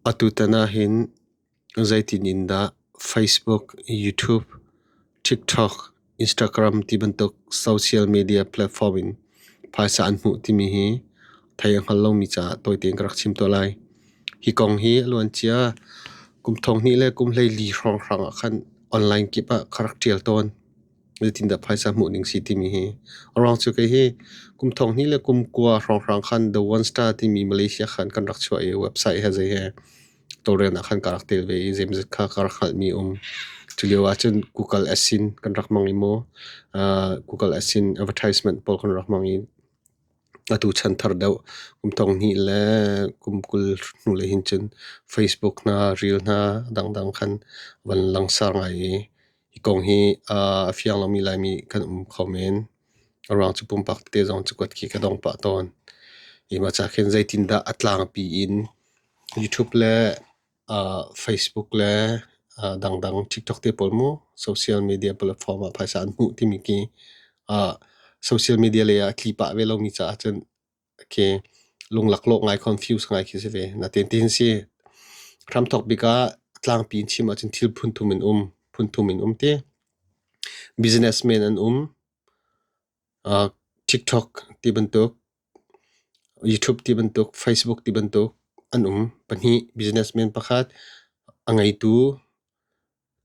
Atutan ahhin zeitin in dah Facebook, YouTube, TikTok, Instagram tibantuk social media platform in phaisa an hmuh timi hi thei a hngal lomi caah tawite in ka rak chim tuah lai. Hi kong hi a luancia kum thong hnih le kum hleili hrawnghrang ah khan online kip ah ka rak ṭial tawn. zeitindah phaisa hmuh ding si timi hi. A ruang cu kei hi kum thong hni le kum kua hrawnghrang khan The One Star timi Malaysia khan kan rak chuah i website he zei he tawlrelnak khan ka rak tel ve i zeimazat kha ka rak hngalhmi um. Culio ahcun Google Asin kan rak hmang i maw Google Asin advertisement pawl kan rak hmang i atu chan thar deuh kum thong hni le kum kul hnule hin cun Facebook hna, reel hna dangdang khan van langsar ngai i Hi kong hi a fiang lomi Laimi kan um kho men. A ruang cu pumpak te zong cakuat khi ka dong pah tawn. Hi ma ca khin zeitindah a tlangpi in YouTube le uh, Facebook le uh, dangdang TikTok te pawl mu social media platform ah phaisa an hmuh timi khi uh, social media lei ah a tli pah ve lomi caah cun khi lunglaklawh ngai confuse ngai khi si ve natin ti hin si hram thok bik ah tlangpi in chim ahcun thil phunthum in um phunthum in um ti businessman an um uh, tiktok ti bantuk youtube ti bantuk facebook ti bantuk an um pahnih businessman pakhat a ngeitu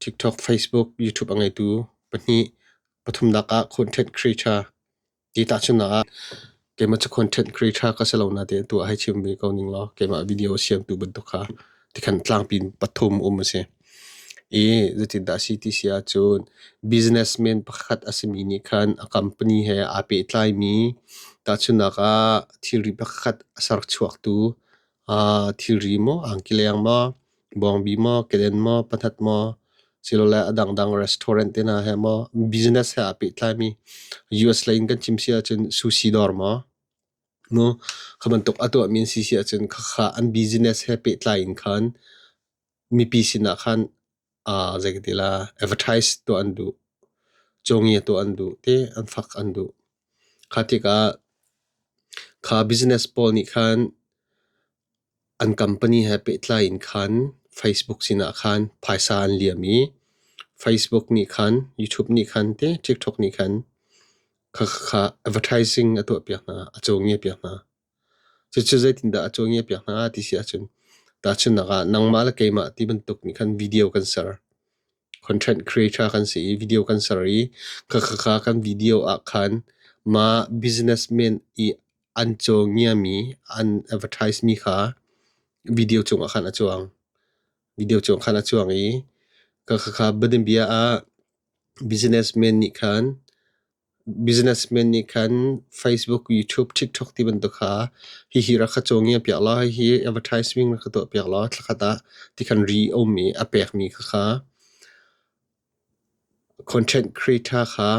tiktok facebook youtube a ngeitu pahnih pathumnak ah content creator Ti tahchunhnak ah, keimah cu content creator ka si lo natein tu ah hei chim ve ko ning law keimah video siamtu bantuk kha tikhan tlangpi in pathum um a si. I zeitindah a si ti si ahcun businessman pakhat a simi nih khan a company he aa pehtlaimi tahchunhnak ah thilri pakhat a serchuaktu thilri maw angki leng maw bawngbi maw keden maw pathat maw silole a dangdang restaurant te hna he maw business he aa pehtlaimi US lei in kan chim si ahcun sushi dawr maw nu kha bantuk a tuahmi an si si ahcun khakha an business he pehtlai in khan mipi sinah khan uh, zei ka ti la advertise tuah an duh congi tuah an duh te an fak an duh kha tikah kha business pawl nih khan an company he pehtlai in khan facebook sinah khan phaisa an liam i facebook nih khan youtube nih khan te tiktok nih khan kha kha advertising a tuah piak hna a congi piak hna Cucu zeitindah a cawngi a piak hna ti si ahcun tahchunhnak ah nangmah le keimah ti bantuk nih khan video kan ser. Content creator kan si i video kan ser i khakhakha kan video ah khan mah businessman i an cawngiami an advertise mi kha video cungah khan a cuang. Video cungah khan a cuang i khakhakha banbia ah businessman nih khan Businessmen nih khan Facebook, YouTube, TikTok ti bantuk kha hihi rak ka cawng i a pek law hihi advertising rak ka tuah piak law thlakhat ah ti khan ri a um i a pekmi kha kha content creator kha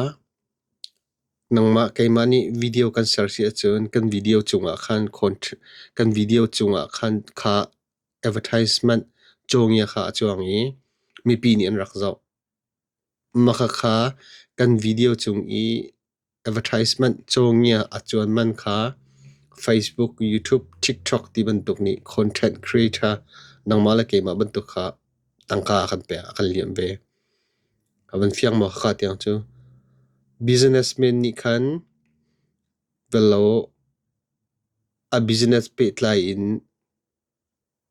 nangmah keimah nih video kan ser si ahcun kan video cungah khan kan video cungah khan kha advertisement cawng ia kha a cuang i mipi nih an rak zoh. Makhakha kan video cung i advertisement cawngi ah a cuan man kha Facebook, YouTube, TikTok ti bantuk nih content creator nangmah le keimah bantuk kha tangka a kan pek a kan liam ve. A van fiang maw khakha tiang cu. Businessmen nih khan velo a business pehtlai in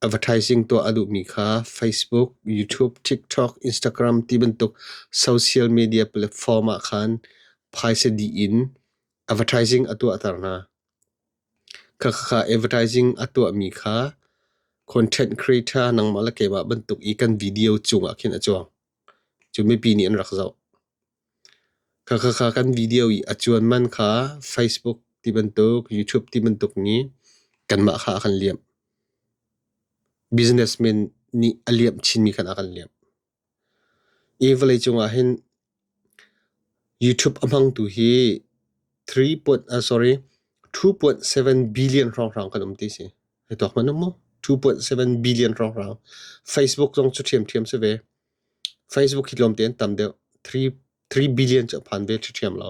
Advertising tuah a duhmi kha Facebook, YouTube, TikTok, Instagram ti bantuk social media platform ah khan phaisa dih in advertising a tuahter hna. Khakhakha advertising a tuahmi kha content creator nangmah le keimah bantuk i kan video cungah khin a cuang. Cu mipi nih an rak zoh. Khakhakha kan video i a cuan man kha Facebook ti bantuk, YouTube ti bantuk i kanmah kha a kan liamh. Business men nih a liamh chinmi khan a kan liamh. Hi vawlei cungah hin YouTube a hmangtu hi three point ah sorry two point seven billion hrawnghrang kan um ti si. Hei tuak hmanh u mu. Two point seven billion hrawnghrang. Facebook zong cu ṭhiamṭhiam si ve. Facebook hi tlawmte an tam deuh. Three billion cu a phan ve ṭhiṭhiam lo.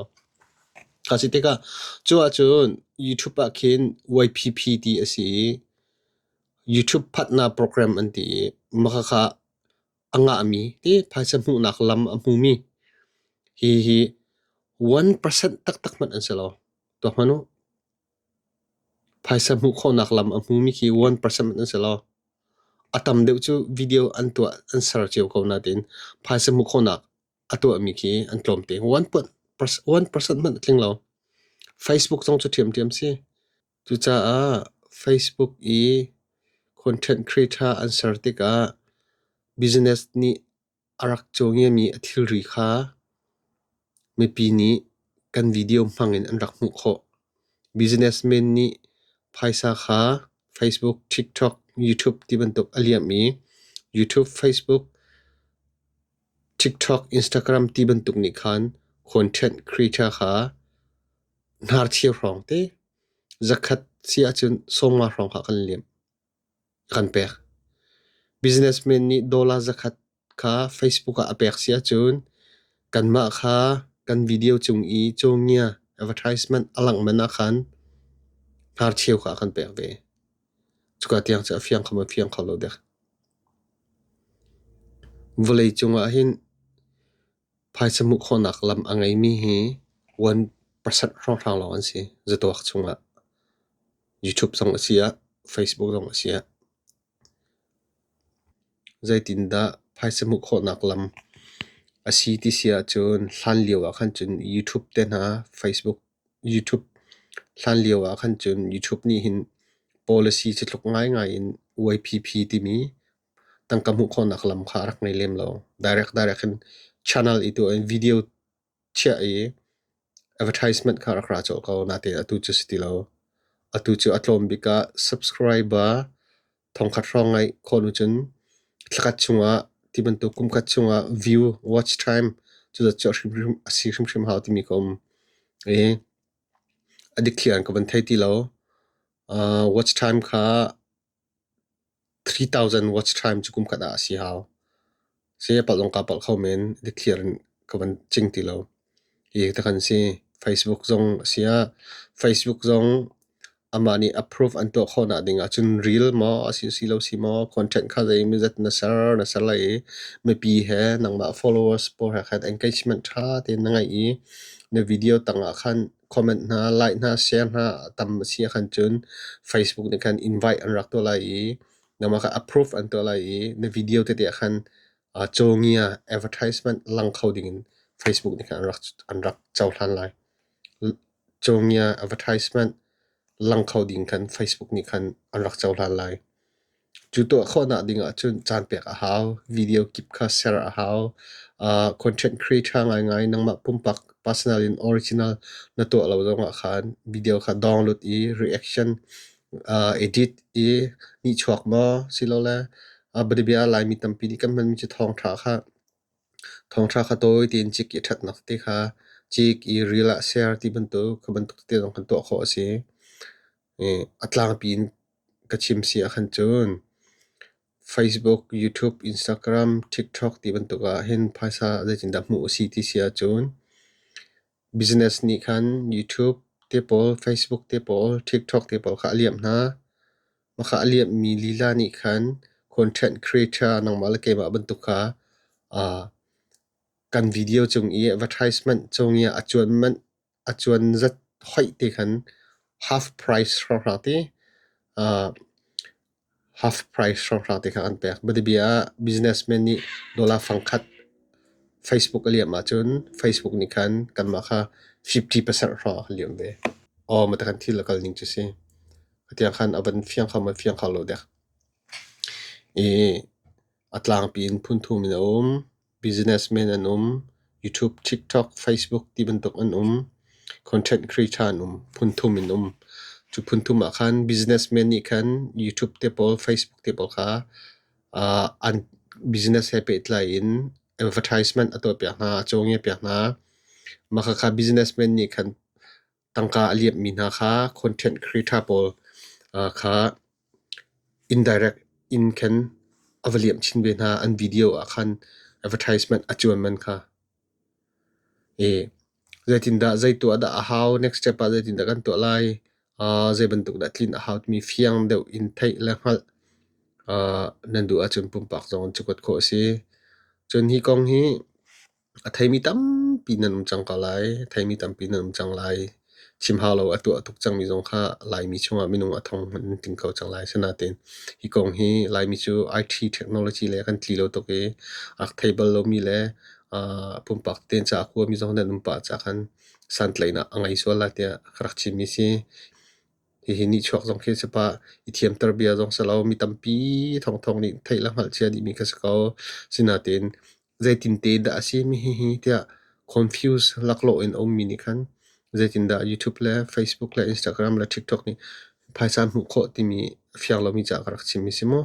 A si tikah cu ahcun YouTube ah khin YPP ti a si i YouTube phatnak program an ti i makhakha a ngahmi ti phaisa hmuhnak lam a hmumi hi hi one percent taktak hmanh an si lo. Tuah hmanh u. Phaisa hmuh khawhnak lam a hmumi khi one percent an si lo. A tam deuh cu video an tuah an ser cio ko nain phaisa hmuh khawhnak a tuahmi khi an tlawm te. One percent hmanh a tling lo. Facebook zong cu ṭhiamṭhiam si. Cucaah Facebook i content creator an ser tikah business nih a rak caw ngiami a thilri kha mipi nih kan video hmangin an rak hmuh khawh. Businessmen nih phaisa kha Facebook, TikTok, YouTube tibantuk a liam i YouTube, Facebook, TikTok, Instagram tibantuk nih khan content creator kha hnarchia hrawng te zakhat si ahcun sawmnga hrawng kha kan liam. kan pek. Businessman nih dollar zakhat kha Facebook ah a pek si ahcun kanmah kha kan video cung i cawngia advertisement a langhman ahkhan hnarcheu kha a kan pek ve. Cuka tiang cu a fiang kho maw fiang kho lo dek. Vawlei cungah hin Phaisa hmuh khawhnak lam a ngeimi hi one percent hrawnghrang lawng an si. Zatuak chungah YouTube zong a si ah, Facebook zong a si ah. Zeitindah phaisa hmuh khawhnak lam a si ti si ahcun hlan lio ah khan cun YouTube te hna, Facebook, YouTube hlan lio ah khan cun YouTube nih hin policy cu tluk ngaingai in YPP timi tangka hmuh khawhnak lam kha a rak ngei lem lo. Direct direct in channel i tu in video chiah i advertisement kha rak ra cawh ko. Natein atu cu si ti lo. Atu cu a tlawm bik ah subscriber thongkhat hrawng ngai khawh nu cun thlakhat chungah ti bantuk kumkhat chungah view watch time cu zat cu a hrimhrim a si hrimhrim hau timi ka um. I addict thian ka van thei ti lo. Uh watch time kha Three thousand watch time cu kum khat ah a si hau. Saya palong kaa palh kho men, dikthliar in ka van cing ti lo. Hi hi takhan si. Facebook zong a si ah, Facebook zong amah nih approve an tuah khawh nak ding ahcun reel maw a si si lo si maw, content kha zei mizat na ser, na ser lai i mipi he nangmah followers pawl he khan engagement tha tein na ngeih i na video tangah khan comment hna, like hna, share hna tam a si ahkhan cun Facebook nih khan invite an rak tuah lai i namah kha approve an tuah lai i na video tete ahkhan uh, cawngi ah advertisement lang kho ding in Facebook nih khan an rak an rak cohlan lai. Cawngi ah advertisement lang kho ding khan Facebook nih khan an rak cohlan lai. Cu tuah khawhnak ding ahcun caan pek a hau. Video kip kha ser a hau. Uh, content creator ngaingai nangmah pumpak personal in original na tuah lo zongah khan video kha download i reaction uh, edit i nihchuak maw silole uh, bia Laimi tampi nih kan hmanmi cu thawngtha kha thawngtha kha tawi tein cik i thatnak te kha cik i reel ah share ti bantuk kha bantuk te zong kan tuah khawh a si. a tlangpi in ka chim si ahkhan cun Facebook, YouTube, Instagram, TikTok ti bantuk ahhin phaisa zeitindah hmuh a si ti si ahcun business nih khan YouTube te pawl, Facebook te pawl, TikTok te pawl kha a liamh hna. Mah kha a liamhmi lila nih khan content creator nangmah le keimah bantuk kha kan video cung i advertisement cung i a cuan manh a cuanzat hoih te khan half price hrawhhra te, half price hrawhhra te kha an pek. Biadabia ah businessman nih dollar fangkhat Facebook a liam ahcun Facebook nih khan kanmah kha fifty percent hrawh a liam ve. Aw mah takhan thil a kal ning cu si. Hatiang khan a van fiang kho, man fiang kho lo dek. I a tlangpi in phun thum in a um. Businessmen an um. YouTube, TikTok, Facebook ti bantuk an um. Content creator an um. Phun thum in um. Cu phun thum ah khan businessmen nih khan YouTube te pawl, Facebook te pawl kha uh, an business he pehtlai in advertisement a tuah piak hna, a cawng piak hna. Mah kha businessmen nih khan tangka a liamhmi hna kha content creator pawl kha indirect in khan a va liamh chin ve hna an video ah khan advertisement a cuan man kha i zeitindah zei tuah dah a hau next step ah zeitindah kan tuah lai zei bantuk dah tlin a hau timi fiang deuh in theih le hngalh nan duh ahcun pumpak zong an cukuat khawh a si cun hi kong hi A theimi tampi nan um cang ko lai. A theimi tampi nan um cang lai. Chim hau lo a tuah tuk cangmi zong kha Laimi chungah minung a thong hmanh in tling kho cang lai. Asinain hi kong hi Laimi cu IT technology lei a kan tli lo tuk i a rak thei bal lomi le aa pumpak tein ca a kuami zong nan um pah caah santlaihnak a ngei sual lai tiah ka rak chimmi si. Hihi nihchuak zong khi a si pah. I thiamter bia zong si lo. Mi tampi thawngthawng nih theih le hngalhcia dihmi ka si ko. Asinain Zeitinte dah a si hihi tiah confuse laklawh in a ummi nih khan zeitindah YouTube le Facebook le Instagram le TikTok nih phaisa hmuh khawh timi a fiang lomi ca ka rak chim hi si maw?